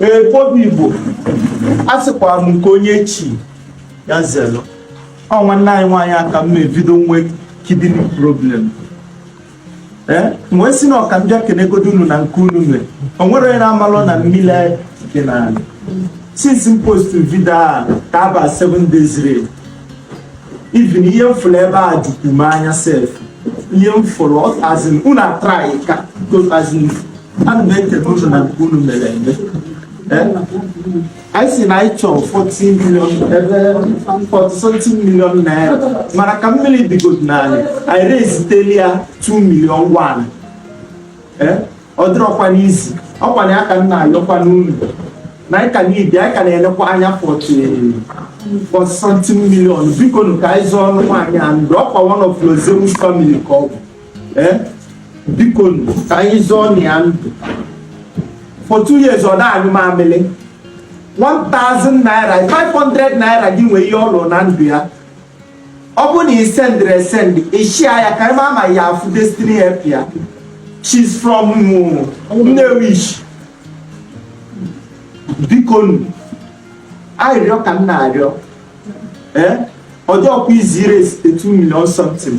ee bobi igbo a sịkwara m nke onye chi ya zelu ọ nwanne anyị nwaanyị a ka m me video nwe kidney problem ee wee sị na ọ ka m bịa kenegodu unu na nke unu mere o nwere onye na-amalụ na mmiri dị n'ala since m post video a ka aba 7 days rain even ihe m fụrụ ebe a jukwu m anya sef ihe m fụrụ as in unu atraịka as in ana m ekele unu na nke unu mere and anyị sị na anyị chọrọ 14 million ebe 40 million naira mana ka mmiri dịgodu n'ala anyị raisetelị ya 2 million 1 eh? ọ dịrọkwa easy ọkwa na ya ka m na-ayọkwa unu na anyị ka needi anyị ka na-elekwa anya forty something million biko nu ka anyị zọọnụ nwaanyị a ndụ ọkwa one of Lord Zeus family ka ọ bụ eh? biko nu ka anyị zọọnụ ya ndụ for two years ọ na-anyụ mamịlị 1000 naira 500 naira gị nwee ihe ọ lụrụ na ndụ ya ọ bụrụ na i sendirọ esendi ị share ya ka a ma ma ọ ya-afụ destiny helper she's from Nnewichi biko nu arịrịọ ka m na-arịọ ee ọ dịrọkwa easy iraise 2 million something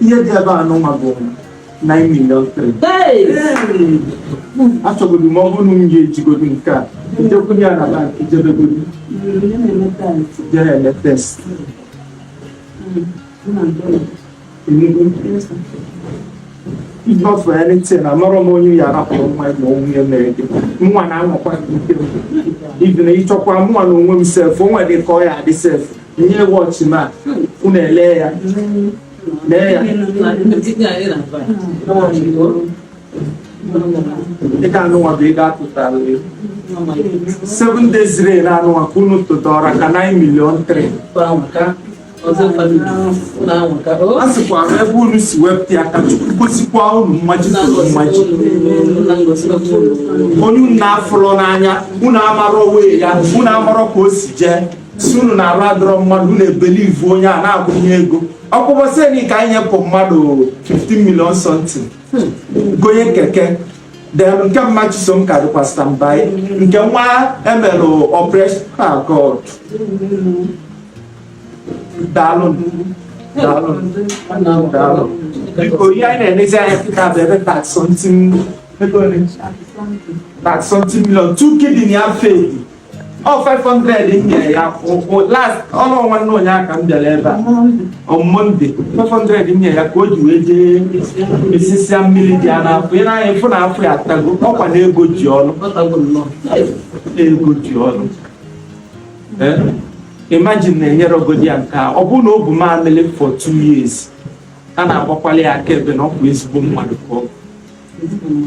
ihe dị ebe anụwa bụ 9 million three. achọgodu m ọ bụrụ na m ga-ejigodu nke a njekwunye ya na bank jebegodu jee ele test Enugu. If not for anything, amara m onye ya arapụrụ nwa ya ma onwe ya mere gị nwa na-anwakwa gị ike m. Even na ịchọkwa mụnwa na onwe m sef o nwere ka ọ ya-adị sef ihe wọchị ma unu ele ya lee ya dịka anụnwa bụ ego a tụtara ya seven days rain anụnwa ka unu tụtara ka 9 million 3 a sịkwa m ebe unu si wepụta ya ka chukwu gọzikwa unu mmaji kwuru mmaji onye unu na-afụrọ n'anya unu amarọ onwe ya unu amarọ ka o si jee si unu na-arụ adọrọ mmadụ unu ebelivu onye a na-akwụnye ego ọkpụbọseni ka anyị nyepụ mmadụ 15 million something gonye keke then nke mma chisom ka dịkwa standby nke nwa emelụ operation ah, god daalụ daalụ daalụ biko ihe anyị na-enezi anya kịta bụ ebe thirty something thirty something million two kidney ya failị ọ 500 m nyere ya ụkwụ last ọ na ọ nwanne ụnyaahụ ka m bịara ebe a on Monday 500 m nyere ya ka o ji wee jee esisia mmiri dị ya n'afọ ị nee anya ị fụ na afọ ya atago ọkwa na ego ji ọlụ ego ji ọlụ Eh? imagine na enyerọgodi ya nke a ọ bụrụ na o bu mamịrị for two years a na-agbakwali ya akaebe na ọ bụ ezigbo mmadụ ka ọ bụ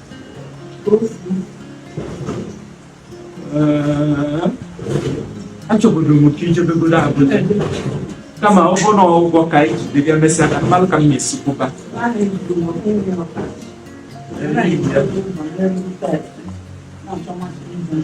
achọburu m ka i jebegodu abụla kama ọ bụrụ na ụgwọ ka anyị jide bịa mesịa ka m malụ ka m na-esi kwụba Thank you.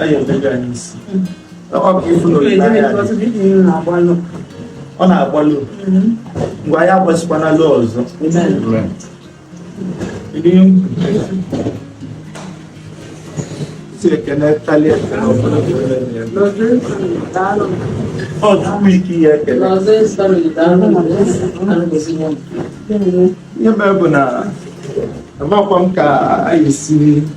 anyị emeju anyị isi ọ bụ ifu na olileanya dị ọ na-agbalụ ngwa anyị gasikwa nalụ ọzọ si ekene talie ọ tupu ike ihe ekele ihe mere bụ na amakwa m ka anyị si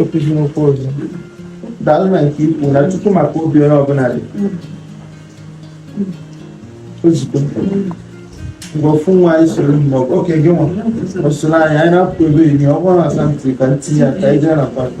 okwu ọzọ daalụ na nke ikwu na tupu maka obi onye ọbụla dị ozugbo mgbe ofu nwa anyị soro mgbe oke gị nwa ọsoro anyị anyị na-apụ ebe enyi ọ bụrụ na asantị ka m tinye ya ka anyị jee na pati